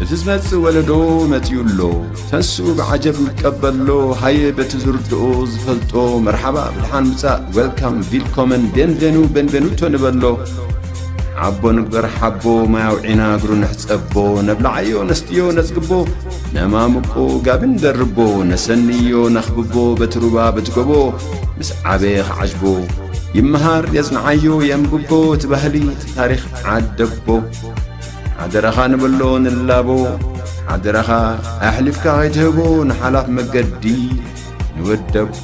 እቲ ዝመጽእ ወለዶ መጺኡ ኣሎ ተንስኡ ብዓጀብ ንቀበሎ ሃየ በቲ ዝርድኦ ዝፈልጦ መርሓባ ብድሓን ምጻእ ዌልካም ቪልኮመን ቤንቬኑ ቤንቬኑቶ ንበሎ ዓቦ ንግበር ሓቦ ማይ ኣውዒና እግሩ ንሕጸቦ ነብላዓዮ ነስትዮ ነጽግቦ ነማምቆ ጋቢ ንደርቦ ነሰንዮ ነኽብቦ በቲ ሩባ በቲ ጎቦ ምስ ዓበየ ኽዓጅቦ ይመሃር የጽንዓዮ የንብቦ እቲ ባህሊ ታሪኽ ዓደቦ ሓደራኻ ንበሎ ንላቦ ሓደራኻ ኣሕሊፍካ ኸይትህቦ ንሓላፍ መገዲ ንወደቦ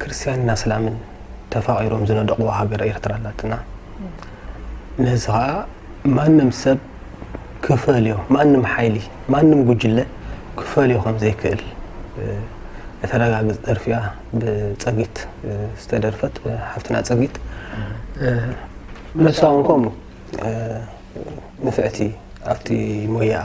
ክርስትያንን ኣስላምን ተፋቒሮም ዝነደቑዋ ሃገር ኤርትራ ኣላትና። ነዚ ኸኣ ማንም ሰብ ክፈልዮ ማንም ሓይሊ ማንም ጉጅለ ክፈልዮ ከም ዘይክእል እተረጋግጽ ደርፊ እያ ብጸጊት ዝተደርፈት ሓፍትና ጸጊት ነሳ እውን ከምኡ ንፍዕቲ ኣብቲ ሞያኣ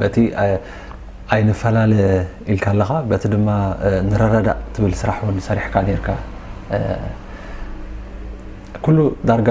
በቲ ኣይንፈላለ ኢልካ ኣለኻ በቲ ድማ ንረዳዳእ ትብል ስራሕ እውን ሰሪሕካ ነርካ ኩሉ ዳርጋ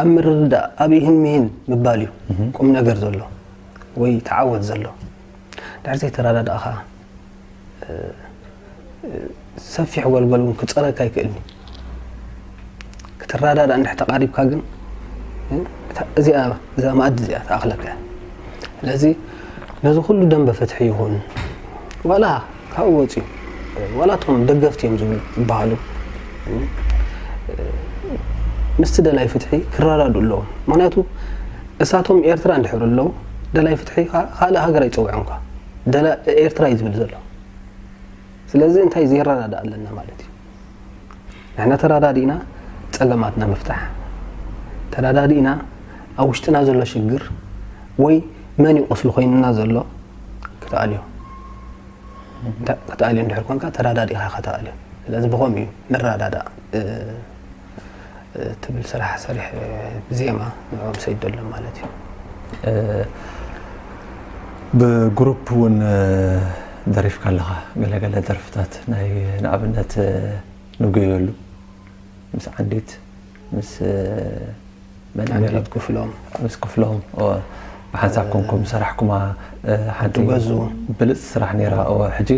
ኣብ ምርድዳእ ኣብ ይህን ምሂን ምባል እዩ ቁም ነገር ዘሎ ወይ ተዓወት ዘሎ ድሕር ዘይተረዳዳእ ከዓ ሰፊሕ ጎልጎል እውን ክፀረካ ይክእልኒ ክትረዳዳእ እንድሕ ተቃሪብካ ግን እዚኣ እዛ መኣዲ እዚኣ ተኣኽለካ ስለዚ ነዚ ኩሉ ደንበ ፍትሒ ይኹን ዋላ ካብኡ ወፅዩ ዋላ እቶም ደገፍቲ እዮም ዝብሉ ዝበሃሉ ምስቲ ደላይ ፍትሒ ክረዳዱ ኣለዎም ምክንያቱ እሳቶም ኤርትራ እንድሕር ኣለዉ ደላይ ፍትሒ ካልእ ሃገር ኣይፀውዖም ኳ ደላ ኤርትራ እዩ ዝብል ዘሎ ስለዚ እንታይ ዘይረዳዳ ኣለና ማለት እዩ ንሕና ተረዳዲእና ፀገማትና ምፍታሕ ተረዳዲእና ኣብ ውሽጥና ዘሎ ሽግር ወይ መን ይቆስሉ ኮይንና ዘሎ ክትኣልዮ ክትኣልዮ እንድሕር ኮንካ ተረዳዲእኻ ከተኣልዮ ስለዚ ብኸምኡ እዩ ንረዳዳእ ትብል ስራሕ ሰሪሕ ብዜማ ንዕኦም ሰይዶ ኣሎ ማለት እዩ ብግሩፕ እውን ደሪፍካ ኣለኻ ገለገለ ደርፍታት ናይ ንኣብነት ንጉየሉ ምስ ዓንዲት ምስ መድሃኒት ክፍሎም ምስ ክፍሎም እወ ብሓንሳብ ኮንኩም ዝሰራሕኩማ ሓንቲ ብልጽቲ ስራሕ ነይራ እወ ሕጂ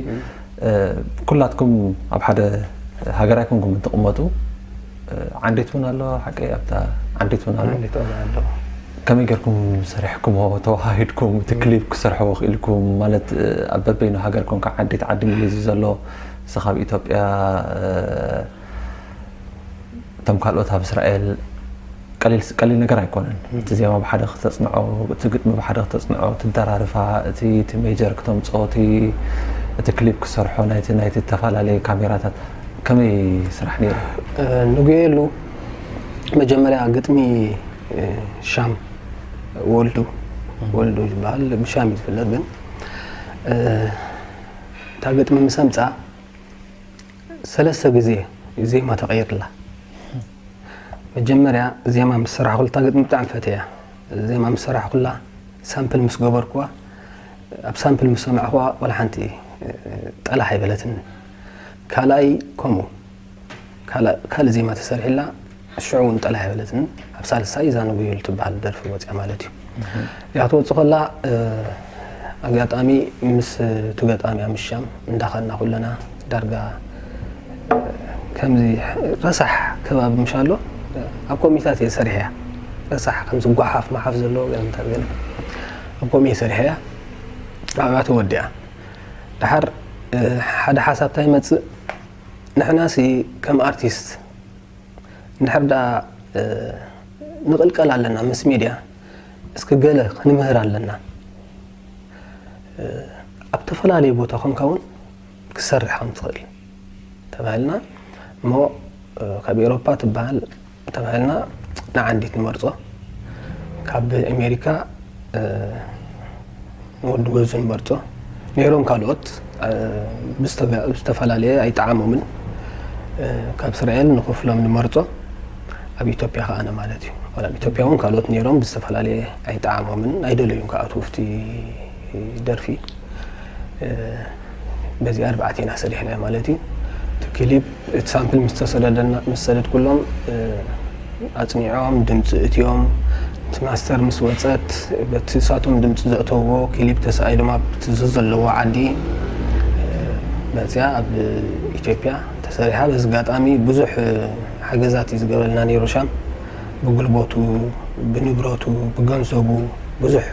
ኩላትኩም ኣብ ሓደ ሃገር ኣይኮንኩም እትቕመጡ ዓንዲት እውን ኣለዋ ሓቀይ ኣብታ ዓንዲት እውን ኣሎ ከመይ ጌርኩም ሰሪሕኩሞ ተዋሃሂድኩም እቲ ክሊፕ ክሰርሕዎ ክኢልኩም ማለት ኣብ በበይኑ ሃገር ኮንካ ዓዲት ዓዲ ምልዚ ዘሎ ንስኻ ኣብ ኢትዮጵያ እቶም ካልኦት ኣብ እስራኤል ቀሊል ቀሊል ነገር ኣይኮነን። እቲ ዜማ ብሓደ ክተጽንዖ፣ እቲ ግጥሚ ብሓደ ክተጽንዖ፣ እቲ ደራርፋ፣ እቲ እቲ ሜጀር ክተምጽኦ፣ እቲ እቲ ክሊፕ ክሰርሖ ናይቲ ናይቲ ዝተፈላለየ ካሜራታት ከመይ ስራሕ ነይሩ? ንጉየሉ መጀመርያ ግጥሚ ሻም ወልዱ ወልዱ ዝበሃል ብሻም እዩ ዝፍለጥ ግን እታ ግጥሚ ምስ ኣምጽኣ ሰለስተ ግዜ እዩ ዜማ ተቐይርላ። መጀመርያ ዜማ ምስ ሰራሕኩላ እታ ግጥሚ ብጣዕሚ ፈቴያ። ዜማ ምስ ሰራሕኩላ ሳምፕል ምስ ገበርኩዋ ኣብ ሳምፕል ምስ ሰማዕኩዋ ዋላ ሓንቲ ጠላሕ ኣይበለትኒ። ካልኣይ ከምኡ ካልእ ዜማ ተሰሪሕላ ሽዑ ውን ጠላይ ኣይበለትን ኣብ ሳልሳይ ዛንጉዩል ትበሃል ደርፊ ወፅያ ማለት እዩ እያ ትወፅእ ከላ ኣጋጣሚ ምስ ትገጣምያ ምሻም እንዳኸና ኩለና ዳርጋ ከምዚ ረሳሕ ከባቢ ምሻ ኣሎ ኣብ ኮሚታት እየ ሰሪሐ እያ ረሳሕ ከምዚ ጓሓፍ ማሓፍ ዘለዎ ገለ ምታት ገለ ኣብ ኮሚ እየ ሰሪሐ እያ ኣብያ ተወዲኣ ድሓር ሓደ ሓሳብታ ይመፅእ ንሕናሲ ከም ኣርቲስት እንድሕር ደኣ ንቕልቀል ኣለና ምስ ሚድያ እስኪ ገለ ክንምህር ኣለና ኣብ ተፈላለየ ቦታ ኮንካ እውን ክሰርሕ ከም ትኽእል ተባሂልና እሞ ካብ ኤሮፓ ትበሃል ተባሂልና ንዓንዲት ንመርፆ ካብ ኣሜሪካ ንወዲ ገዙ ይመርጾ ነይሮም ካልኦት ብዝተፈላለየ ኣይጠዓሞምን ካብ እስራኤል ንክፍሎም ንመርጾ ኣብ ኢትዮጵያ ከኣነ ማለት እዩ ዋላ ኣብ ኢትዮጵያ እውን ካልኦት ነይሮም ብዝተፈላለየ ኣይጠዓሞምን ኣይደለዩም ከኣትዉ ኣብቲ ደርፊ በዚ ኣርባዕተ ኢና ሰሪሕናዮ ማለት እዩ። እቲ ክሊፕ እቲ ሳምፕል ምስ ተሰደደና ምስ ሰደድኩሎም ኣጽኒዖም ድምጺ እትዮም እቲ ማስተር ምስ ወጸት በቲ ሳቶም ድምጺ ዘእተዎ ክሊፕ ተሳኢሎም ኣብቲ ዘዘለዎ ዓዲ መጽያ ኣብ ኢትዮጵያ ተሰሪሓ። በዚ ኣጋጣሚ ብዙሕ ሓገዛት እዩ ዝገበረልና ነይሩ ሻም ብጉልበቱ ብንብረቱ ብገንዘቡ ብዙሕ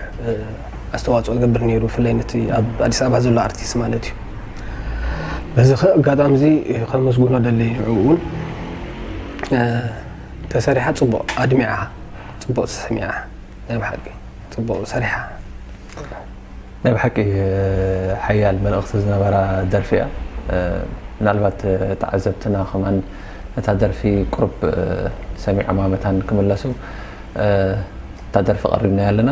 ኣስተዋጽኦ ዝገብር ነይሩ ብፍላይ ነቲ ኣብ ኣዲስ ኣበባ ዘሎ ኣርቲስት ማለት እዩ በዚ ከ ኣጋጣሚ እዚ ከመስግኖ ደሊ ንዕኡ እውን ተሰሪሓ ፅቡቅ ኣድሚዓ ፅቡቅ ተሰሚዓ ናይ ብሓቂ ፅቡቅ ሰሪሓ ናይ ብሓቂ ሓያል መልእኽቲ ዝነበራ ደርፊ እያ ምናልባት ተዓዘብትና ከማን እታ ደርፊ ቁሩብ ሰሚዖማ መታን ክምለሱ እታ ደርፊ ቀሪብናያ ኣለና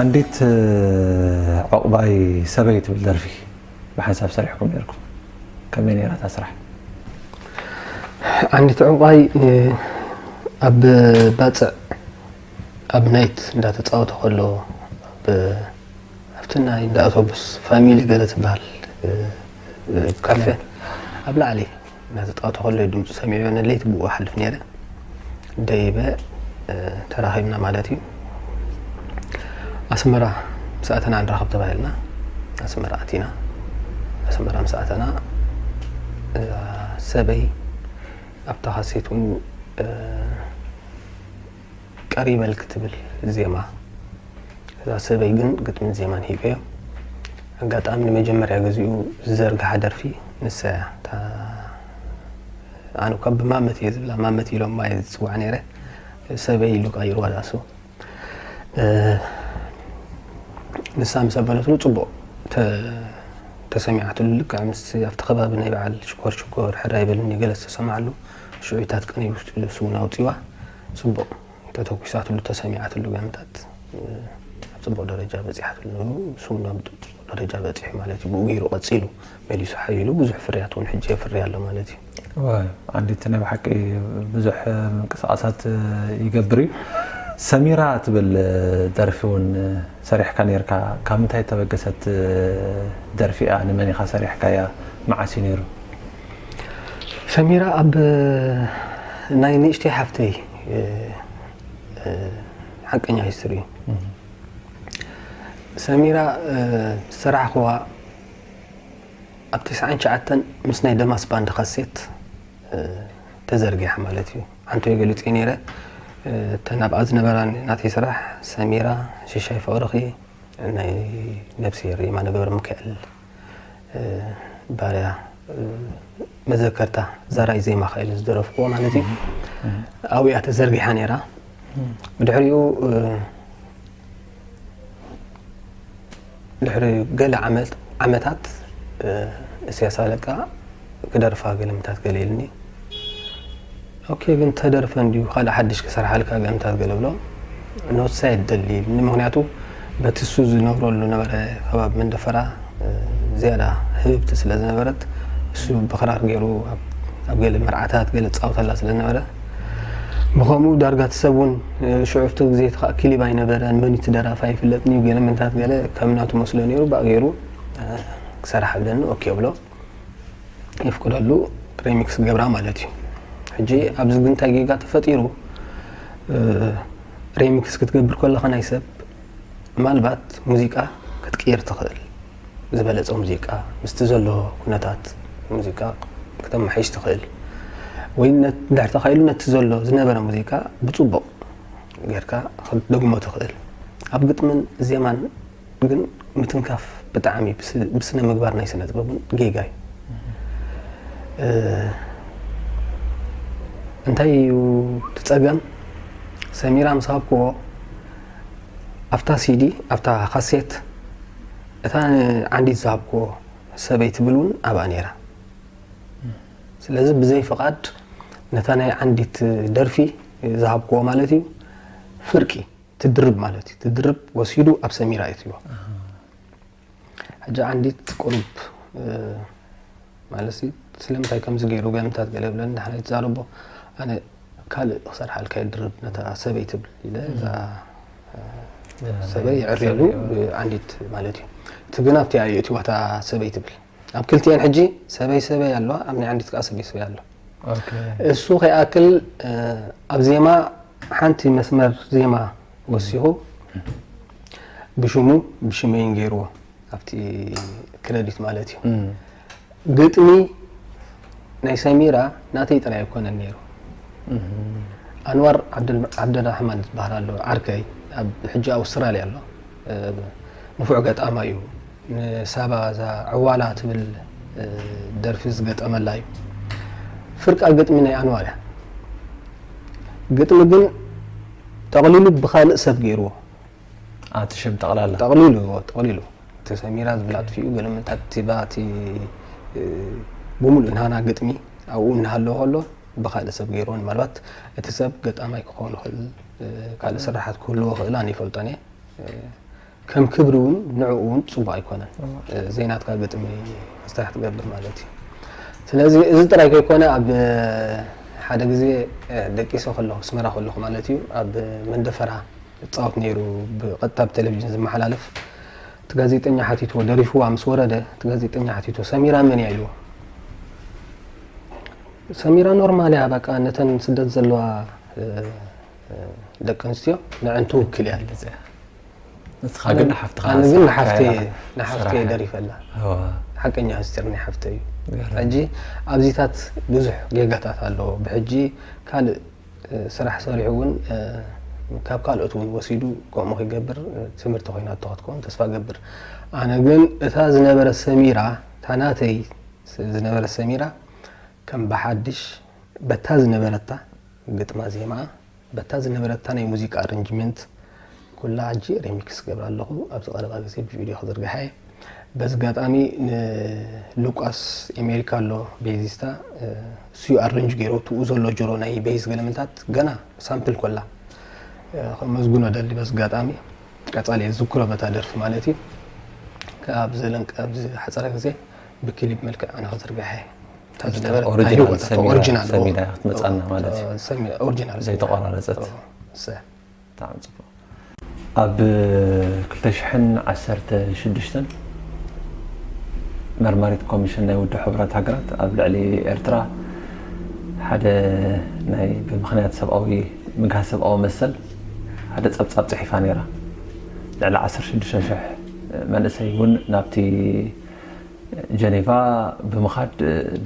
ዓንዲት ዑቕባይ ሰበይ ትብል ደርፊ ብሓንሳብ ሰሪሕኩም ኔርኩም ከመይ ኔራ እታ ስራሕ? ዓንዲት ዑቕባይ ኣብ ባጽዕ ኣብ ናይት እንዳ ተጻወተ ከሎ ኣብቲ ናይ እንዳ ኣቶቡስ ፋሚሊ ገለ ትብሃል ካፌ ኣብ ላዕሊ እናተጻወተ ከሎ'ዩ ድምጹ ሰሚዐዮ እነ ለይቲ ብኡ እሓልፍ ነይረ ደይበ ተራኺብና ማለት እዩ ኣስመራ ምስ ኣተና ንራኸብ ተባሂልና ኣስመራ ኣቲና ኣስመራ ምስ ኣተና ሰበይ ኣብታ ካሴት እውን ቀሪበልኪ ትብል ዜማ እዛ ሰበይ ግን ግጥምን ዜማን ሂበዮ ኣጋጣሚ ንመጀመርያ ግዚኡ ዝዘርግሓ ደርፊ ንሳ እያ እታ ኣነ እኳ ብማመት እየ ዝብላ ማመት ኢሎም ማየ ዝፅዋዕ ነይረ ሰበይ ኢሉ ቀይርዋ ዝኣስቡ ንሳ ምስ ኣበለትሉ ፅቡቅ ተሰሚዓትሉ ልክዕ ምስ ኣብቲ ከባቢ ናይ በዓል ሽኮር ሽኮር ሕራይ በልኒ ገለ ዝተሰማዓሉ ሽዑታት ቅንይ ውሽጢ ንሱ እውን ኣውፂዋ ፅቡቕ ተተኩሳትሉ ተሰሚዓትሉ ጋንታት ኣብ ፅቡቕ ደረጃ በፂሓትሉ ንሱ እውን ኣብ ፅቡቕ ደረጃ በፂሑ ማለት እዩ ብኡ ገይሩ ቀፂሉ መሊሱ ሓይሉ ብዙሕ ፍርያት እውን ሕጂ የፍሪ ኣሎ ማለት እዩ ዓንዲቲ ናይ ብሓቂ ብዙሕ ምንቅስቃሳት ይገብር እዩ ሰሚራ ትብል ደርፊ እውን ሰሪሕካ ነርካ ካብ ምንታይ ተበገሰት ደርፊ እያ ንመን ኢኻ ሰሪሕካያ መዓስ እዩ ነይሩ ሰሚራ ኣብ ናይ ንእሽተይ ሓፍተይ ሓቀኛ ሂስትሪ እዩ ሰሚራ ዝሰራሕኹዋ ኣብ ትስዓን ትሽዓተን ምስ ናይ ደማስ ባንድ ካሴት ተዘርጊሓ ማለት እዩ ሓንተይ ገሊፀ ነይረ እተን ኣብኣ ዝነበራ ናተይ ስራሕ ሰሚራ ሽሻይ ፍቕርኺ ናይ ነብሲ የማነ ገብረ ሚካኤል ባርያ መዘከርታ ዛራይ ዜማ ከኢሉ ዝደረፍክዎ ማለት እዩ ኣብኡ እያ ተዘርጊሓ ነይራ ብድሕሪኡ ድሕሪ ገለ ዓመታት እስያስ ኣለቃ ክደርፋ ገለምታት ገለ ኢልኒ ኦኬ ግን ተደርፈ እንድዩ ካልእ ሓድሽ ክሰርሓልካ ጋንታት ገለ ብሎ ኖትሳ የደሊ ኢሉኒ ምክንያቱ በቲ እሱ ዝነብረሉ ነበረ ከባቢ መንደፈራ ዝያዳ ህብብቲ ስለ ዝነበረት እሱ ብክራር ገይሩ ኣብ ገለ መርዓታት ገለ ጻውተላ ስለ ዝነበረ ብከምኡ ዳርጋ እቲ ሰብ እውን ሽዑፍቲ ግዜ እቲ ከዓ ክሊብ ኣይነበረን መን እቲ ደራፋ ይፍለጥኒ ገለ መንታት ገለ ከም ናቱ መስሎ ነይሩ ብኣ ገይሩ ክሰርሓለኒ ኦኬ ብሎ ነፍቅደሉ ሪሚክስ ገብራ ማለት እዩ ሕጂ ኣብዚ ግን እንታይ ጌጋ ተፈጢሩ ሪሚክስ ክትገብር ከለኻ ናይ ሰብ ምናልባት ሙዚቃ ክትቅይር ትኽእል ዝበለፀ ሙዚቃ ምስቲ ዘሎ ኩነታት ሙዚቃ ክተመሓይሽ ትኽእል ወይ ድሕር ተኻኢሉ ነቲ ዘሎ ዝነበረ ሙዚቃ ብፅቡቕ ጌርካ ክትደግሞ ትኽእል ኣብ ግጥምን ዜማን ግን ምትንካፍ ብጣዕሚ ብስነ ምግባር ናይ ስነ ጥበብ እውን ጌጋ እዩ እንታይ እዩ ትፀገም ሰሚራ ምስ ሃብክዎ ኣብታ ሲዲ ኣብታ ካሴት እታ ዓንዲት ዝሃብክዎ ሰበይ ትብል እውን ኣብኣ ነይራ ስለዚ ብዘይ ፍቓድ ነታ ናይ ዓንዲት ደርፊ ዝሃብክዎ ማለት እዩ ፍርቂ ትድርብ ማለት እዩ ትድርብ ወሲዱ ኣብ ሰሚራ የትልዎ ሕጂ ዓንዲት ቁሩብ ማለት ስለምንታይ ከምዚ ገይሩ ገምታት ገለ ብለን ንሓና ይትዛረቦ ኣነ ካልእ ክሰርሓልካ ይድርብ ነታ ሰበይ ትብል ኢለ እዛ ሰበይ ይዕርየሉ ብዓንዲት ማለት እዩ እቲ ግን ኣብቲ ኣዩ እቲዋታ ሰበይ ትብል ኣብ ክልቲኤን ሕጂ ሰበይ ሰበይ ኣለዋ ኣብ ናይ ዓንዲት ከኣ ሰበይ ሰበይ ኣሎ እሱ ከይኣክል ኣብ ዜማ ሓንቲ መስመር ዜማ ወሲኹ ብሽሙ ብሽመይን ገይርዎ ኣብቲ ክረዲት ማለት እዩ ግጥሚ ናይ ሰሚራ ናተይ ጥራይ ኣይኮነን ነይሩ ኣንዋር ዓብደራሕማን ዝበሃል ኣሎ ዓርከይ ኣብ ሕጂ ኣውስትራልያ ኣሎ ንፉዕ ገጣማ እዩ ንሳባ እዛ ዕዋላ ትብል ደርፊ ዝገጠመላ እዩ። ፍርቃ ግጥሚ ናይ ኣንዋር እያ። ግጥሚ ግን ጠቕሊሉ ብኻልእ ሰብ ገይርዎ። ኣቲ ሽም ጠቕላላ ጠቕሊሉ ጠቕሊሉ እቲ ሰሚራ ዝብል ኣጥፊኡ ገለ ምንታት ቲባ እቲ ብምሉእ ናና ግጥሚ ኣብኡ እናሃለወ ከሎ ብካልእ ሰብ ገይርዎ ምናልባት እቲ ሰብ ገጣማይ ክኸውን ይኽእል ካልእ ስራሓት ክህልዎ ክእላን ይፈልጦን እየ ከም ክብሪ እውን ንዕኡ እውን ፅቡቅ ኣይኮነን ዘይናትካ ግጥሚ ክስራሕ ትገብር ማለት እዩ ስለዚ እዚ ጥራይ ከይኮነ ኣብ ሓደ ግዜ ደቂሰ ከለኹ ኣስመራ ከለኹ ማለት እዩ ኣብ መንደፈራ ይፃወት ነይሩ ብቐጥታ ብቴሌቭዥን ዝመሓላለፍ እቲ ጋዜጠኛ ሓቲትዎ ደሪፍዋ ምስ ወረደ እቲ ጋዜጠኛ ሓቲትዎ ሰሚራ መን እያ ኢልዎ ሰሚራ ኖርማል እያ በቃ ነተን ስደት ዘለዋ ደቂ ኣንስትዮ ንዕን ትውክል እያ ንስኻ ግን ንሓፍትኻ ኣነ ግን ንሓፍተይ እየ ንሓፍተይ እየ ደሪፈላ ሓቀኛ ምስጢር ናይ ሓፍተይ እዩ ሕጂ ኣብዚታት ብዙሕ ጌጋታት ኣለዎ ብሕጂ ካልእ ስራሕ ሰሪሑ እውን ካብ ካልኦት እውን ወሲዱ ከምኡ ክገብር ትምህርቲ ኮይና ተኸትከውን ተስፋ ገብር ኣነ ግን እታ ዝነበረ ሰሚራ እታ ናተይ ዝነበረ ሰሚራ ከም ብሓድሽ በታ ዝነበረታ ግጥማ ዜማ በታ ዝነበረታ ናይ ሙዚቃ ኣረንጅመንት ኩላ ሕጂ ሪሚክስ ክገብራ ኣለኹ ኣብዚ ቀረባ ግዜ ብቪድዮ ክዝርግሓ እየ በዚ ጋጣሚ ንሉቃስ ኢሜልካ ኣሎ ቤዚስታ እሱ ኣረንጅ ገይሮ ትኡ ዘሎ ጆሮ ናይ ቤዝ ገለመንታት ገና ሳምፕል ኮላ ከመስግኖ ደሊ በዚ ጋጣሚ ቀጻሊ እየ ዝዝክሮ በታ ደርፊ ማለት እዩ ካብ ዘለንቀ ኣብዚ ሓጸረ ግዜ ብክሊፕ መልክዕ ኣነ ክዝርግሐ እየ መርማሪት ኮሚሽን ናይ ውድብ ሕቡራት ሃገራት ኣብ ልዕሊ ኤርትራ ሓደ ናይ ብምክንያት ሰብኣዊ ምግሃ ሰብኣዊ መሰል ሓደ ፀብፃብ ፅሒፋ ነይራ ልዕሊ 16 ሽሕ መንእሰይ እውን ናብቲ ጀኔቫ ብምኻድ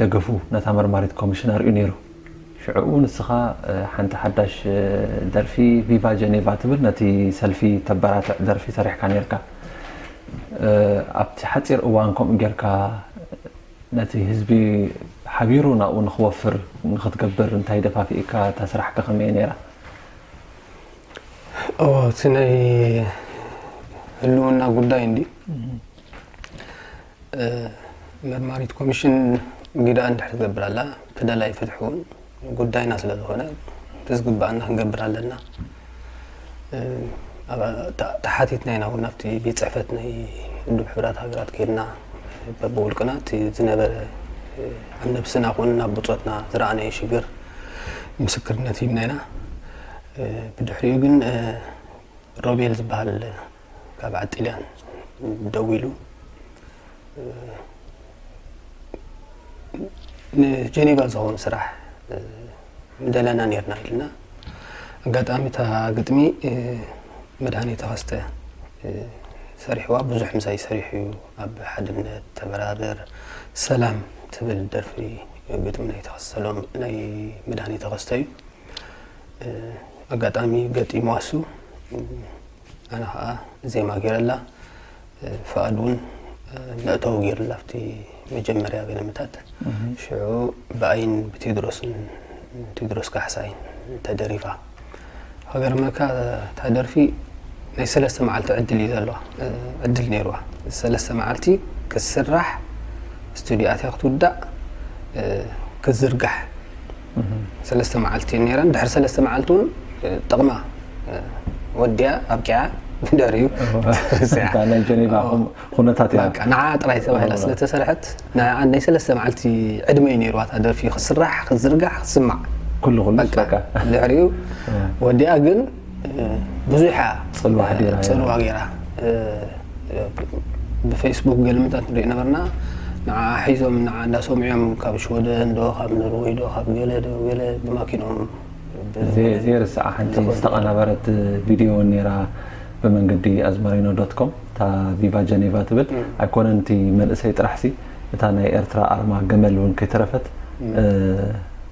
ደገፉ ነታ መርማሪት ኮሚሽን ኣርእዩ ነይሩ። ሽዕኡ ንስኻ ሓንቲ ሓዳሽ ደርፊ ቪቫ ጀኔቫ ትብል ነቲ ሰልፊ ተበራትዕ ደርፊ ሰሪሕካ ነይርካ። ኣብቲ ሓጺር እዋን ከምኡ ጌርካ ነቲ ህዝቢ ሓቢሩ ናብኡ ንኽወፍር ንኽትገብር እንታይ ደፋፊእካ? እታ ስራሕካ ከመይ እያ ነይራ? እቲ ናይ ህልውና ጉዳይ እንድዩ። መርማሪት ኮሚሽን ግደኣ እንድሕር ትገብር ኣላ በደል ኣይፍትሕውን ጉዳይና ስለ ዝኾነ ብዝግባኣና ክንገብር ኣለና ተሓቲትና ኢና እውን ናብቲ ቤት ፅሕፈት ናይ ውድብ ሕብራት ሃገራት ከይድና በብውልቅና እቲ ዝነበረ ኣብ ነብስና ኮኑ ናብ ብፆትና ዝረኣናዮ ሽግር ምስክርነት ሂብና ኢና ብድሕሪኡ ግን ሮቤል ዝበሃል ካብ ጥልያን ደዊሉ ንጀኔቫ ዝኸውን ስራሕ ምደለና ነርና ኢልና ኣጋጣሚ እታ ግጥሚ መድሃኒ ተኸስተ ሰሪሕዋ ብዙሕ ምሳይ ሰሪሑ እዩ ኣብ ሓድነት ተበራበር ሰላም ትብል ደርፊ ግጥሚ ናይ ተኸሰሎም ናይ መድሃኒ ተኸስተ እዩ ኣጋጣሚ ገጢሙ ኣሱ ኣነ ከዓ ዜማ ገይረላ ፍቃድ እውን መእተዊ ገይሩላ ኣብቲ መጀመርያ ገለመታት ሽዑ ብኣይን ብቴድሮስን ቴድሮስ ካሕሳይን ተደሪፋ ሃገርመካ እታ ደርፊ ናይ ሰለስተ መዓልቲ ዕድል እዩ ዘለዋ ዕድል ነይርዋ ሰለስተ መዓልቲ ክትስራሕ ስቱድዮ ኣትያ ክትውዳእ ክትዝርጋሕ ሰለስተ መዓልቲ እዩ ነይረን ድሕሪ ሰለስተ መዓልቲ እውን ጥቕማ ወዲያ ኣብቂዓ ብደሪኡ ናይ ጀኔቫ ኩነታት እያ ንዓ ጥራይ ተባሂላ ስለተሰርሐት ናይ ሰለስተ መዓልቲ ዕድመ እዩ ነይርዋ እታ ደርፊ ክስራሕ ክዝርጋሕ ክስማዕ ኩሉ ኩሉ በቃ ድሕሪኡ ወዲኣ ግን ብዙሕ እያ ፅልዋ ገይራ ብፌስቡክ ገለ ምንታት ንሪኢ ነበርና ንዓዓ ሒዞም ንዓዓ እንዳሰምዑዮም ካብ ሽወደን ዶ ካብ ኖርወይ ዶ ካብ ገለ ዶ ገለ ብማኪንኦም ዘይርስዓ ሓንቲ ዝተቐናበረት ቪድዮ እውን ነይራ ብመንገዲ ኣዝመሪኖ ዶት ኮም እታ ቪቫ ጀኔቫ ትብል ኣይኮነን እቲ መንእሰይ ጥራሕሲ እታ ናይ ኤርትራ ኣርማ ገመል እውን ከይተረፈት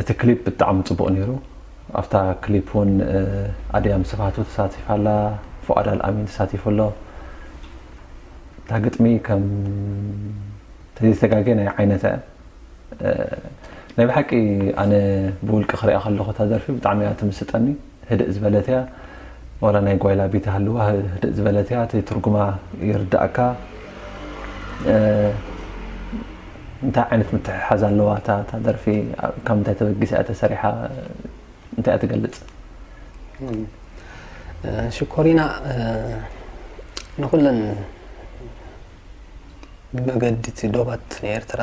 እቲ ክሊፕ ብጣዕሚ ጽቡቅ ኔሩ ኣብታ ክሊፕ ውን ኣድያም ስብሃቱ ተሳቲፋ ኣላ ፉኣድ ኣልኣሚን ተሳቲፉ ኣሎ እታ ግጥሚ ከም ተዘይተጋጌ ናይ ዓይነታ እያ ናይ ብሓቂ ኣነ ብውልቂ ክሪኣ ከለኩ እታ ደርፊ ብጣዕሚ እያ ትምስጠኒ ህድእ ዝበለት እያ ዋላ ናይ ጓይላ ቤት ሃልዋ ህድእ ዝበለት እያ እቲ ትርጉማ ይርዳእካ እንታይ ዓይነት ምትሕሓዝ ኣለዋ እታ እታ ደርፊ ካብ ምንታይ ተበጊሳ እያ ተሰሪሓ እንታይ እያ ትገልጽ ሽኮሪና ንኩለን ብመገዲ እቲ ዶባት ናይ ኤርትራ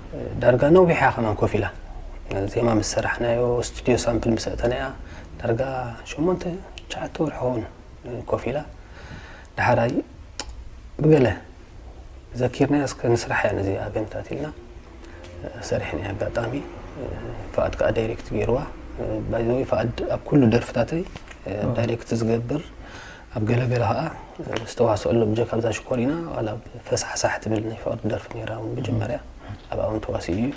ዳርጋ ነዊሕ እያ ከማን ኮፍ ኢላ ዜማ ምስ ሰራሕናዮ ስቱድዮ ሳምፕል ምስ ኣእተናያ ዳርጋ ሸሞንተ ትሽዓተ ወርሒ ኸውን ኮፍ ኢላ ድሓራይ ብገለ ዘኪርናያ እስከ ንስራሕ እያ ነዚ ኣገንታት ኢልና ሰሪሕና ኣጋጣሚ ፍኣድ ከዓ ዳይሬክት ገይርዋ ባይዘወይ ፍኣድ ኣብ ኩሉ ደርፍታተይ ዳይሬክት ዝገብር ኣብ ገለ ገለ ከኣ ዝተዋስኣሎም ጀክ ኣብዛ ሽኮሪና ዋላ ብ ፈሳሕሳሕ ትብል ናይ ፍቅሪ ደርፊ ነይራ ውን መጀመርያ ኣብኣ ውን ተዋሲኡ እዩ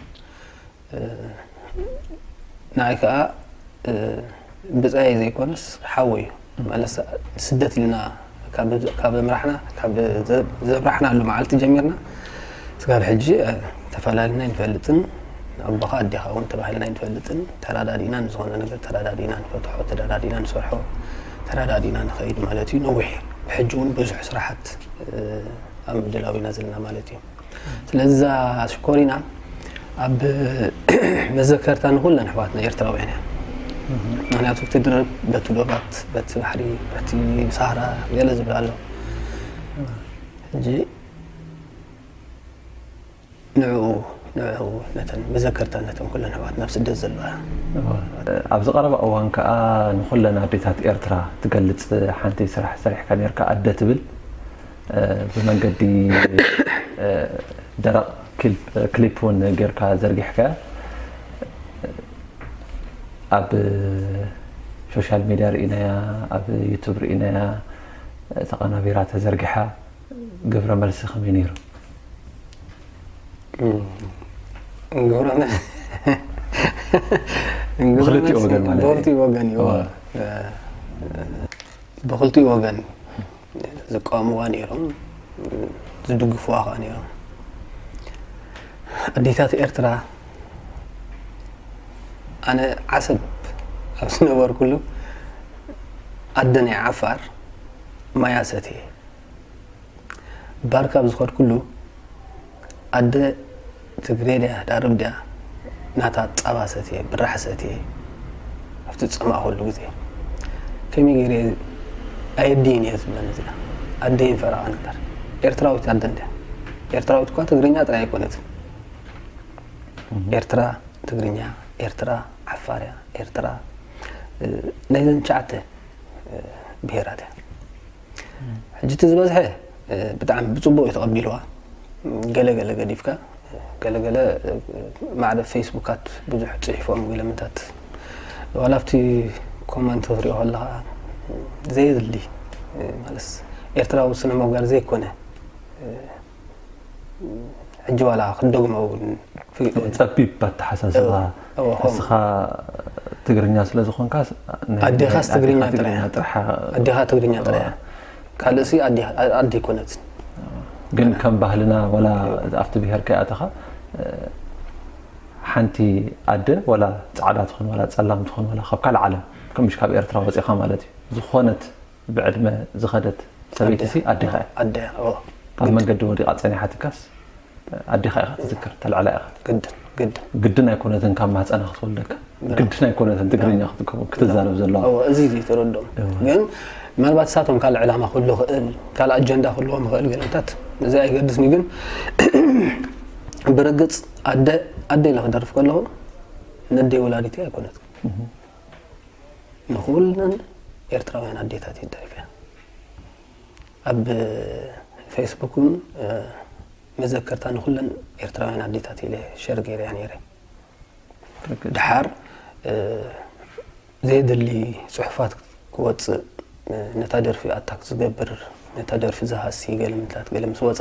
ንዓይ ከኣ ብጻየ ዘይኮነስ ሓወይ እዩ መለስ ስደት ኢልና ካብ ምራሕና ካብ ዘብራሕናሉ መዓልቲ ጀሚርና ስጋብ ሕጂ ተፈላለና ይንፈልጥን ኣቦኻ ኣዴኻ እውን ተባሂልና ይንፈልጥን ተረዳዲእና ንዝኾነ ነገር ተረዳዲእና ንፈትሖ ተረዳዲእና ንሰርሖ ተረዳዲና ንኸይድ ማለት እዩ ነዊሕ ብሕጂ እውን ብዙሕ ስራሓት ኣብ ምድላው ኢና ዘለና ማለት እዩ ስለዚ እዛ ሽኮሪና ኣብ መዘከርታ ንኩለን ኣሕዋትና ኤርትራውያን እያ ምክንያቱ እቲ ድርብ በቲ ዶባት በቲ ባሕሪ በቲ ሳህራ ገለ ዝብላ ኣሎ ሕጂ ንዕኡ ንዕኡ ነተን መዘከርታ ነተን ኩለን ኣሕዋትና ኣብ ስደት ዘለዋ። ኣብዚ ቀረባ እዋን ከኣ ንኹለን ኣዴታት ኤርትራ ትገልጽ ሓንቲ ስራሕ ሰሪሕካ ኔርካ ኣደ ትብል ብመንገዲ ደረቕ ክሊፕ ውን ጌርካ ዘርጊሕካያ ኣብ ሾሻል ሚድያ ርኢናያ ኣብ ዩቱብ ርኢናያ ተቐናቢራ ተዘርጊሓ ግብረ መልሲ ከመይ ነይሩ? ግብረ መልሲ ብክልቲኡ ወገን ማለት ብክልቲኡ ወገን እዩ ብክልቲኡ ወገን ዝቃወምዋ ነይሮም ዝድግፍዋ ከዓ ነይሮም ኣዴታት ኤርትራ ኣነ ዓሰብ ኣብ ዝነበርኩሉ ኣደ ናይ ዓፋር ማያ ሰትየ ባርካ ኣብ ዝኸድኩሉ ኣደ ትግሬ ድያ ዳርብ ድያ ናታ ፃባ ሰትየ ብራሕ ሰትየ ኣብቲ ዝፀማእኹሉ ግዜ ከመይ ገይረ ኣየዲን እየ ዝብለን እዚኣ ኣደይን ፈረቓ ነበር ኤርትራዊት ኣደ እንድያ ኤርትራዊት እኳ ትግርኛ ጥራይ ኣይኮነትን ኤርትራ ትግርኛ ኤርትራ ዓፋርያ ኤርትራ ናይዘን ሸዓተ ብሄራት እያ ሕጂ እቲ ዝበዝሐ ብጣዕሚ ብፅቡቅ እዩ ተቐቢልዋ ገለ ገለ ገዲፍካ ገለ ገለ ማዕረ ፌስቡካት ብዙሕ ፅሒፎም ወይ ለምንታት ዋላ ኣብቲ ኮመንት ክትሪኦ ከለካ ዘየድሊ ማለት ኤርትራዊ ስነ ምግባር ዘይኮነ ሕጂ ዋላ ክትደግሞ እውን ፍሊጦ ጸቢብ ኣተሓሳስባ እወ፣ እወ፣ ከምኡ። እስኻ ትግርኛ ስለ ዝኾንካ ናይ- ኣዴኻስ ናይ ትግርኛ ኣዴኻ ጥራይ እያ። ጥርሓ ኣዴኻ ትግርኛ ጥራይ እያ ካልእሲ ኣዴ ኣዴ ኣይኮነትን ግን ከም ባህልና ወላ ኣብቲ ብሄር ከይኣተኻ እ፣ ሓንቲ ኣደ ወላ ፃዕዳ ትኹን ወላ ፀላም ትኹን ወላ ካብ ካልእ ዓለም ከምሽ ካብ ኤርትራ ወፂኻ ማለት እዩ ዝኾነት ብዕድመ ዝኸደት ሰበይቲሲ ኣዴኻ እያ። ኣደ እያ ኦዎ። ኣብ መንገዲ ወዲቓ ጸኒሓትካስ ኣዴኻ ኢኻ ትዝክር፣ ተልዕላ ኢኻ። ግድን ግድን። ግድን ኣይኮነትን ካብ ማህጸና ክትወልደካ፣ ግድን ኣይኮነትን ትግርኛ ክትከውን ክትዛረብ ዘለዋ። ኦዎ እዚ እዚ ተረድኦም። ግን ምናልባት እሳቶም ካልእ ዕላማ ክህሉ ይኽእል፣ ካልእ ኣጀንዳ ክህልዎም ይኽእል ገለታት እዚ ኣይገድስንዩ ግን ብርግጽ ኣደ ኣደ ኢለ ክደርፍ ከለኹ ነደይ ወላዲተይ ኣይኮነትን። ንኹለን ኤርትራውያን ኣዴታት እየ ደሪፈን ኣብ ፌስቡክ እውን መዘከርታ ንኩለን ኤርትራውያን ኣዴታት ኢለ ሸር ገይረያ ነይረ ድሓር ዘየድሊ ፅሑፋት ክወፅእ ነታ ደርፊ ኣታክ ዝገብር ነታ ደርፊ ዝሃሲ ገለምታት ገለም ስወፀ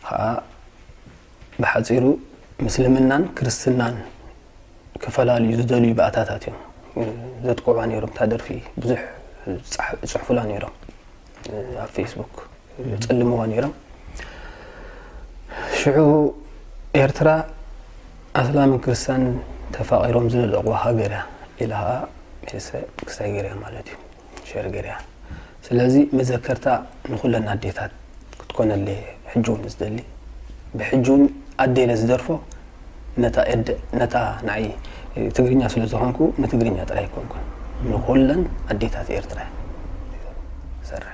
ከዓ ብሓጺሩ ምስልምናን ክርስትናን ክፈላልዩ ዝደልዩ ባእታታት እዮም ዘጥቅዑዋ ነይሮም። እታ ደርፊ ብዙሕ ዝጽሕፉላ ነይሮም ኣብ ፌስቡክ ጸልምዋ ነይሮም። ሽዑ ኤርትራ ኣስላምን ክርስትያን ተፋቒሮም ዝለለቑዋ ሃገር እያ ኢላ ሜልሰ ክስታይ ገይራ ማለት እዩ። ሸር ገሪያ ስለዚ መዘከርታ ንኩለን ኣዴታት ክትኮነለይ ሕጂ ውን ዝደሊ ብሕጂ ውን ኣደ ኢለ ዝደርፎ ነታ ኤደ ነታ ንዓይ ትግርኛ ስለ ዝኾንኩ ንትግርኛ ጥራይ ኣይኮንኩን ንኩለን ኣዴታት ኤርትራ ይሰርሕ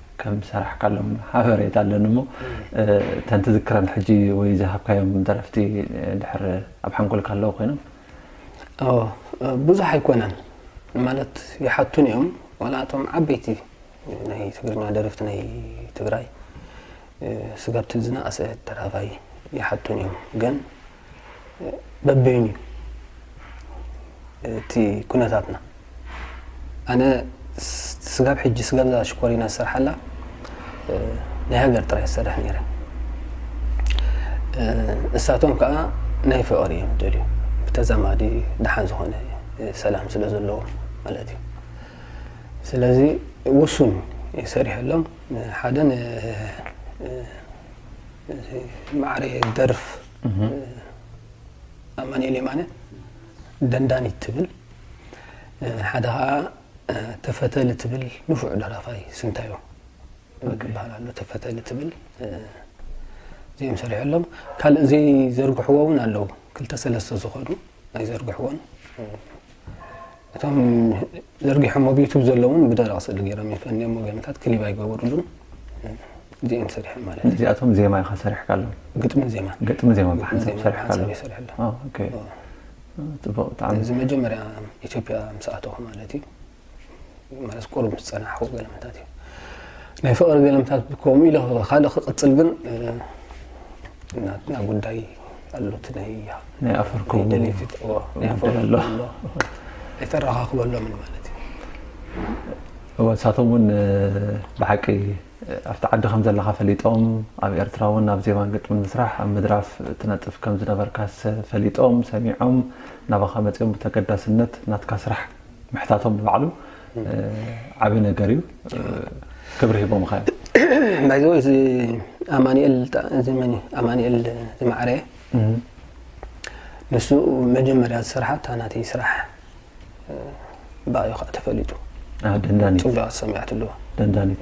ከም ዝሰራሕካሎም ሓበሬታ ኣለኒ እሞ እተን ትዝክረን ሕጂ ወይ ዝሃብካዮም ደረፍቲ ድሕር ኣብ ሓንጎልካ ኣለዉ ኮይኖም ብዙሕ ኣይኮነን ማለት ይሓቱን እዮም ዋላ እቶም ዓበይቲ ናይ ትግርኛ ደረፍቲ ናይ ትግራይ ስጋብ ትዝና ኣሰ ደራፋይ ይሓቱን እዮም ግን በበይኑ እዩ እቲ ኩነታትና ኣነ ስጋብ ሕጂ ስጋብዛ ሽኮሪና ዝሰርሓላ ናይ ሃገር ጥራይ ዝሰርሕ ነይረ እሳቶም ከዓ ናይ ፍቕሪ እዮም ደልዩ ብተዛማዲ ድሓን ዝኾነ ሰላም ስለ ዘለዎ ማለት እዩ ስለዚ ውሱን ሰሪሐሎም ሓደ ማዕረ ደርፍ ኣማኒኤል የማነ ደንዳኒት ትብል ሓደ ከዓ ተፈተሊ ትብል ንፉዕ ደራፋይ ስንታዮ ክበሃል ኣሎ ተፈተሊ ትብል እዚኦም ሰሪሖሎም ካልእ ዘይዘርግሕዎ እውን ኣለዉ ክልተ ሰለስተ ዝኮኑ ኣይዘርግሕዎን እቶም ዘርጊሖም ኣብ ዩቱብ ዘለውን ብደረቕ ስእሊ ገይሮም ይፈንዮም ወገንታት ክሊብ ኣይገበሩሉን እዚኦም ሰሪሖም ማለት እዩ እዚኣቶም ዜማ ኢኻ ሰሪሕካ ኣለዉ ግጥምን ዜማ ግጥሚ ዜማ ብሓንሳብ ሰሪሕካ ኣለዉ ይሰርሕለ ፅቡቅ ብጣዕሚ እዚ መጀመርያ ኢትዮጵያ ምስ ኣተኹ ማለት እዩ ማለት ቁሩብ ዝጸናሕኩ ገለመታት እዩ ናይ ፍቕሪ ገለመታት ከምኡ ኢለ ካልእ ክቕጽል ግን ናትና ጉዳይ ኣሎት ናይ ናይ ኣፈርኩ ደሌፊት ኣሎ ኣይተረኻኽበሎምን ማለት እዩ ንሳቶም እውን ብሓቂ ኣብቲ ዓዲ ከም ዘለካ ፈሊጦም ኣብ ኤርትራ እውን ኣብ ዜማን ግጥምን ምስራሕ ኣብ ምድራፍ ትነጥፍ ከም ዝነበርካስ ፈሊጦም ሰሚዖም ናባኻ መፅኦም ብተገዳስነት ናትካ ስራሕ ምሕታቶም ንባዕሉ ዓቢ ነገር እዩ ክብሪ ሂቦምኻ እዮም ባይዘወ እዚ ኣማኒኤል ዘመኒ ኣማኒኤል ዝማዕረ ንሱ መጀመርያ ዝስርሓ እታ ናተይ ስራሕ ባዩ ከዓ ተፈሊጡ ደንዳኒት ፅቡቅ ሰሚዓት ኣለዎ ደንዳኒት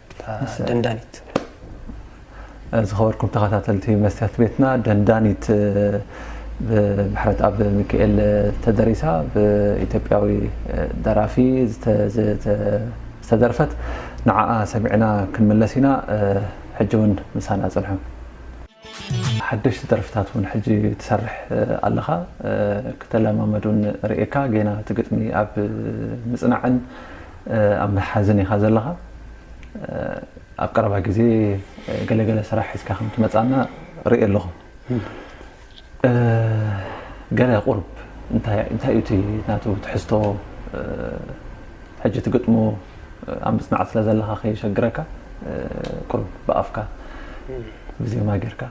ደንዳኒት። ዝኸበርኩም ተኸታተልቲ መስትያት ቤትና ደንዳኒት ብምሕረትኣብ ሚካኤል ተደሪሳ ብኢትዮጵያዊ ደራፊ ዝተደርፈት ንዓኣ ሰሚዕና ክንምለስ ኢና ሕጂ እውን ምሳና ጽንሑ። ሓደሽቲ ደርፍታት ውን ሕጂ ትሰርሕ ኣለኻ ክተለማመድ ውን ርእየካ ጌና እቲ ግጥሚ ኣብ ምጽናዕን ኣብ ምሓዝን ኢኻ ዘለኻ ኣብ ቀረባ ግዜ ገለ ገለ ስራሕ ሒዝካ ከም ትመጽኣና ርእየ ኣለኹ ገለ ቁርብ እንታይ እንታይ እቲ ናቱ ትሕዝቶ ሕጂ ትግጥሞ ኣብ ምጽናዕ ስለ ዘለኻ ከይሸግረካ ቁርብ ብኣፍካ ብዜማ ጌርካ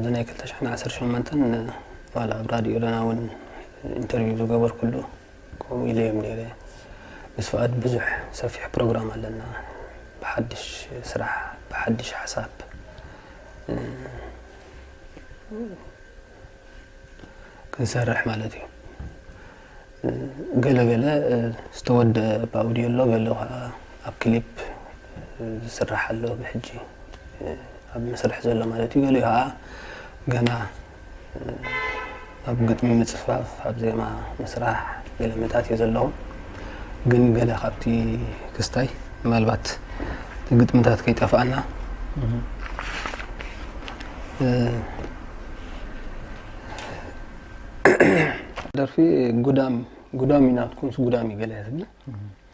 ብናይ 218 ዋላ ኣብ ራድዮ ለና እውን ኢንተርቪው ዝገበርኩሉ ከምኡ ኢለዮም ነይረ ምስ ፍኣድ ብዙሕ ሰፊሕ ፕሮግራም ኣለና ብሓድሽ ስራሕ ብሓድሽ ሓሳብ ክንሰርሕ ማለት እዩ ገለ ገለ ዝተወደአ ብኣውድዮ ኣሎ ገለ ከዓ ኣብ ክሊፕ ዝስራሕ ኣሎ ብሕጂ ኣብ መስርሕ ዘሎ ማለት እዩ ገሊኡ ከዓ ገና ኣብ ግጥሚ ምጽፋፍ ኣብ ዜማ ምስራሕ ገለ መታት እዩ ዘለዎም ግን ገለ ካብቲ ክስታይ ምናልባት እቲ ግጥምታት ከይጠፍኣና ደርፊ ጉዳም ጉዳም ናትኩምስ ጉዳም እዩ ገለ ትብል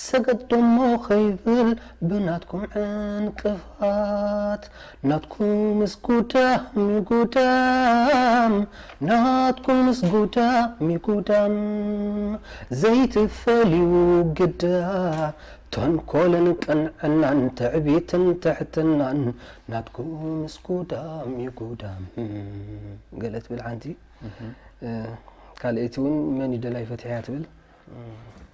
ሰገዶሞ ከይብል ብናትኩም ዕንቅፋት ናትኩምስ ጉዳምዩ ጉዳም ናትኩምስ ጉዳምዩ ጉዳም ዘይትፈልዩ ግዳ ተንኮልን ቅንዕናን ትዕቢትን ትሕትናን ናትኩምስ ጉዳምዩ ጉዳም ገለ ትብል ሓንቲ ካልኣይቲ ውን መንዩ ደላይ ፈትሕያ ትብል።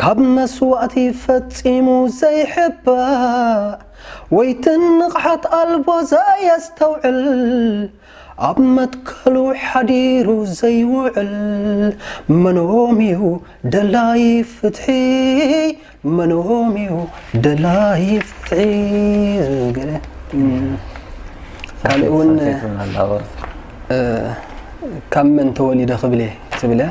ካብ መስዋእቲ ፈጺሙ ዘይሕባእ ወይ ትንቕሓት ኣልቦ ዘየስተውዕል ኣብ መትከሉ ሓዲሩ ዘይውዕል መኖም'ዩ ደላይ ፍትሒ መኖም'ዩ ደላይ ፍትሒ ገለ ካልእ እውን ካብ መን ተወሊደ ክብል እየ ትብል እያ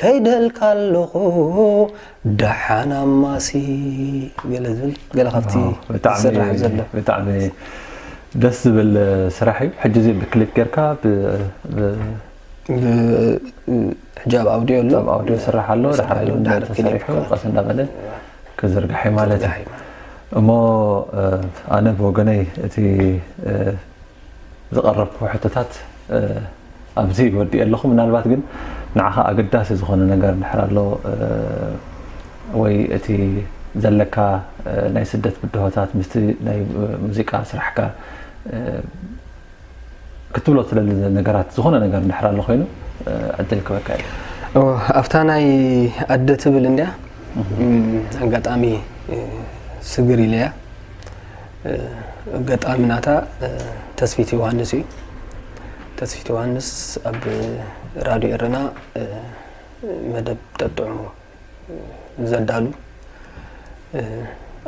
ከይደልካ ኣለኹ ደሓን ኣማሲ ገለ ዝብል ገለ ካብቲ ዝስራሕ ዘሎ ብጣዕሚ ደስ ዝብል ስራሕ እዩ ሕጂ እዚ ብክሊፕ ጌርካ ሕጂ ኣብ ኣውዲዮ ኣሎ ኣብ ኣውዲዮ ስራሕ ኣሎ ድሓር ተሰሪሑ ቀስ እንዳበለ ክዝርጋሕ ማለት እዩ እሞ ኣነ ብወገነይ እቲ ዝቐረብኩ ሕቶታት ኣብዚ ወዲኤ ኣለኹ። ምናልባት ግን ንዓኻ ኣገዳሲ ዝኾነ ነገር እንድሕር ኣሎ ወይ እቲ ዘለካ ናይ ስደት ብድሆታት ምስቲ ናይ ሙዚቃ ስራሕካ ክትብሎ ትደሊ ነገራት ዝኾነ ነገር እንድሕር ኣሎ ኮይኑ ዕድል ክበካ እዩ። ኣብታ ናይ ኣደ ትብል እንድያ ኣጋጣሚ ስግር ኢለያ ገጣሚ ናታ ተስፊት ዮሃንስ እዩ። ተስፊት ዮሃንስ ኣብ ራድዮ ኤረና መደብ ጠጥዑ ዘዳሉ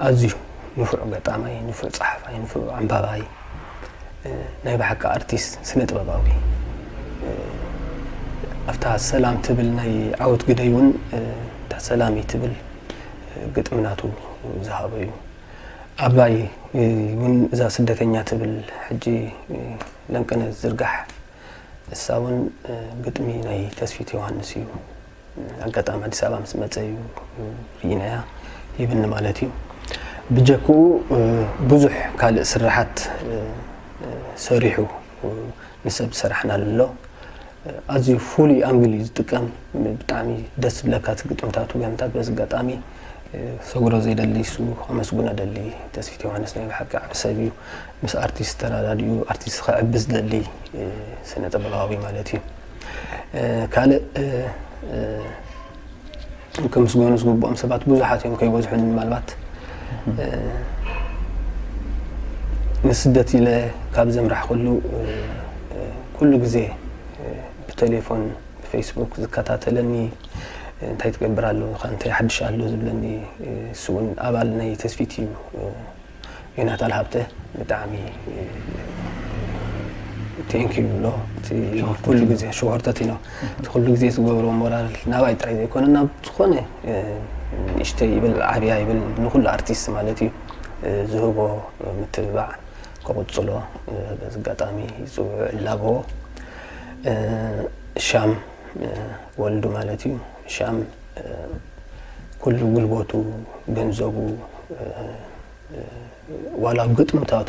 ኣዝዩ ንፉዕ ገጣማይ፣ ንፉዕ ጸሓፋይ፣ ንፉዕ ኣንባባይ ናይ ብሓቂ ኣርቲስት ስነ ጥበባዊ ኣብታ ሰላም ትብል ናይ ዓወት ግደይ እውን እታ ሰላም ትብል ግጥምናቱ ዝሃበ እዩ። ኣባይ ውን እዛ ስደተኛ ትብል ሕጂ ለንቅነ ዝርጋሕ እሳ ውን ግጥሚ ናይ ተስፊት ዮሃንስ እዩ ኣጋጣሚ ኣዲስ ኣበባ ምስ መጸ እዩ ርኢናያ ይብኒ ማለት እዩ ብጀክኡ ብዙሕ ካልእ ስራሓት ሰሪሑ ንሰብ ሰራሕና ኣሎ ኣዝዩ ፍሉይ ኣንግል እዩ ዝጥቀም ብጣዕሚ ደስ ዝብለካ እቲ ግጥምታቱ ገምታት በዚ ኣጋጣሚ ክሰግሮ ዘይደሊ እሱ ከመስግኖ ደሊ ተስፊት ዮሃንስ ናይ ብሓቂ ዓቢ ሰብ እዩ ምስ ኣርቲስት ተራዳድኡ ኣርቲስት ከዕቢ ዝደሊ ስነ ጥበባዊ ማለት እዩ ካልእ ከምስገኑ ዝግብኦም ሰባት ብዙሓት እዮም ከይበዝሑን ምናልባት ንስደት ኢለ ካብ ዘምራሕ ኩሉ ኩሉ ግዜ ብቴሌፎን ብፈይስቡክ ዝከታተለኒ እንታይ ትገብር ኣለኻ እንታይ ሓድሽ ኣሎ ዝብለኒ እሱ እውን ኣባል ናይ ተስፊት እዩ ዮናታል ሃብተ ብጣዕሚ ቴንኪ ይብሎ ኩሉ ግዜ ሸወርተት ኢኖ እቲ ኩሉ ግዜ ዝገብሮ ሞራል ናባይ ጥራይ ዘይኮነ ናብ ዝኾነ ንእሽተይ ይብል ዓብያ ይብል ንኩሉ ኣርቲስት ማለት እዩ ዝህቦ ምትብባዕ ክቕጽሎ በዚ ኣጋጣሚ ይጽውዑ እላበዎ። ሻም ወልዱ ማለት እዩ። ሻም ኩሉ ጉልበቱ፣ ገንዘቡ፣ ዋላ ግጥምታቱ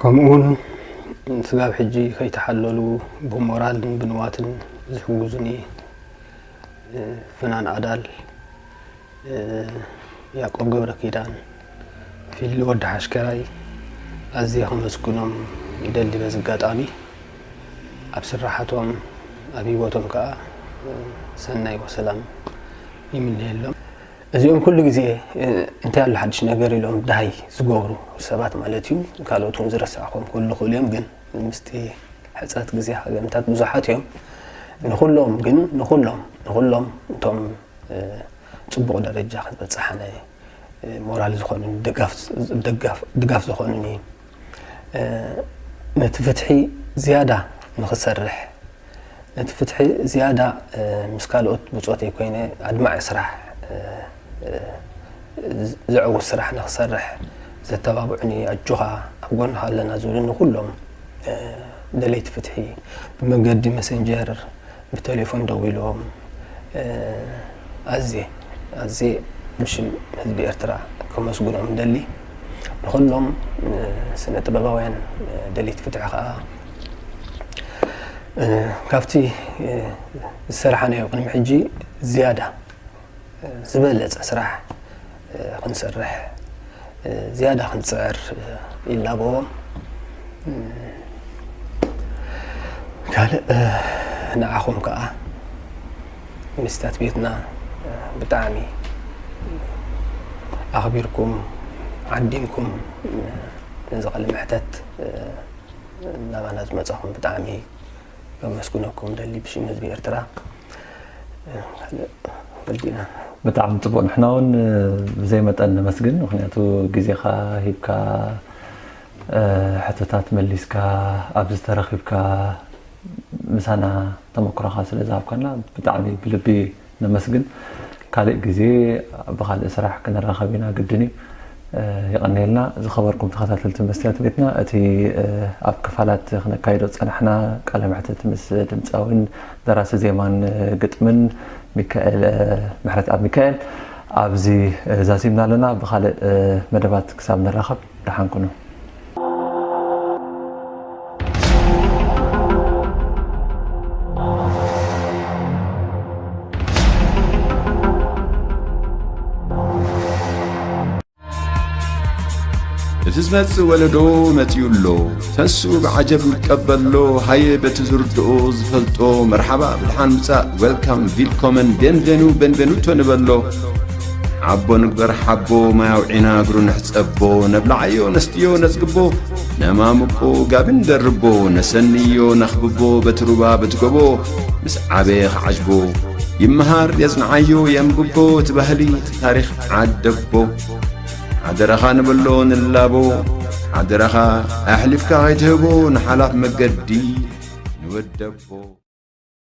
ከምኡውን ስጋብ ሕጂ ከይተሓለሉ ብሞራልን ብንዋትን ዝሕጉዙኒ ፍናን ኣዳል፣ ያቆብ ገብረኪዳን፣ ፊሊ ወዲ ሓሽከራይ ኣዝየ ከመስግኖም ይደሊ በዚ ኣጋጣሚ ኣብ ስራሓቶም ኣብ ሂወቶም ከኣ ሰናይ ወሰላም ይምነየሎም። እዚኦም ኩሉ ግዜ እንታይ ኣሎ ሓድሽ ነገር ኢሎም ዳሃይ ዝገብሩ ሰባት ማለት እዩ ካልኦት እውን ዝረሳዕኹም ክህሉ ይኽእሉ እዮም ግን ምስቲ ሕፅረት ግዜ ሃገምታት ብዙሓት እዮም ንኹሎም ግን ንኹሎም ንኹሎም እቶም ፅቡቕ ደረጃ ክንበፅሓነ ሞራል ዝኾኑኒ ድጋፍ ዝኾኑኒ ነቲ ፍትሒ ዝያዳ ንክሰርሕ ነቲ ፍትሒ ዝያዳ ምስ ካልኦት ብፆተይ ኮይነ ኣድማዒ ስራሕ ዘዕውት ስራሕ ንክሰርሕ ዘተባብዑኒ ኣጆኻ ኣብ ጎንኻ ኣለና ዝብሉኒ ኩሎም ደለይቲ ፍትሒ ብመገዲ መሰንጀር ብተሌፎን ደዊሎም ኣዝየ ኣዝየ ብሽም ህዝቢ ኤርትራ ከመስግኖም እደሊ። ንኹሎም ስነ ጥበባውያን ደለይቲ ፍትሒ ከኣ ካብቲ ዝሰራሓናዮ ቅድሚ ሕጂ ዝያዳ ዝበለጸ ስራሕ ክንሰርሕ ዝያዳ ክንጽዕር ይላበዎም። ካልእ ንዓኹም ከዓ ሚስታት ቤትና ብጣዕሚ ኣኽቢርኩም ዓዲምኩም ነዚ ቃለ መሕተት ናባና ዝመጻኹም ብጣዕሚ ከመስግነኩም ደሊ ብሽም ህዝቢ ኤርትራ ካልእ ወዲእና ብጣዕሚ ፅቡቅ ንሕና እውን ብዘይ መጠን ነመስግን ምክንያቱ ግዜካ ሂብካ ሕቶታት መሊስካ ኣብዚ ተረኪብካ ምሳና ተመክሮካ ስለ ዝሃብካና ብጣዕሚ ብልቢ ነመስግን ካልእ ግዜ ብካልእ ስራሕ ክንራከብ ኢና ግድን እዩ የቀንየልና ዝከበርኩም ተከታተልቲ መስትያት ቤትና እቲ ኣብ ክፋላት ክነካይዶ ዝጸናሕና ቃለ መሕትት ምስ ድምጻዊን ደራሲ ዜማን ግጥምን ሚካኤል ምሕረትኣብ ሚካኤል ኣብዚ ዛዚምና ኣለና ብካልእ መደባት ክሳብ ንራከብ ደሓን ኩኑ። እቲ ዝመጽእ ወለዶ መጺኡ ኣሎ ተስኡ ብዓጀብ ይቀበሎ ሃየ በቲ ዝርድኦ ዝፈልጦ መርሓባ ብድሓን ምጻእ ዌልካም ቪልኮመን ቤንቬኑ ቤንቬኑቶ ንበሎ ሓቦ ንግበር ሓቦ ማይ ኣውዒና እግሩ ንሕጸቦ ነብላዓዮ ነስትዮ ነጽግቦ ነማምቆ ጋቢ ንደርቦ ነሰንዮ ነኽብቦ በቲ ሩባ በቲ ጎቦ ምስ ዓበየ ኸዓጅቦ ይመሃር የጽንዓዮ የንብቦ እቲ ባህሊ እቲ ታሪኽ ዓደቦ ሓደራኻ ንበሎ ንላቦ ሓደራኻ ኣሕሊፍካ ኸይትህቦ ንሓላፍ መገዲ ንወደቦ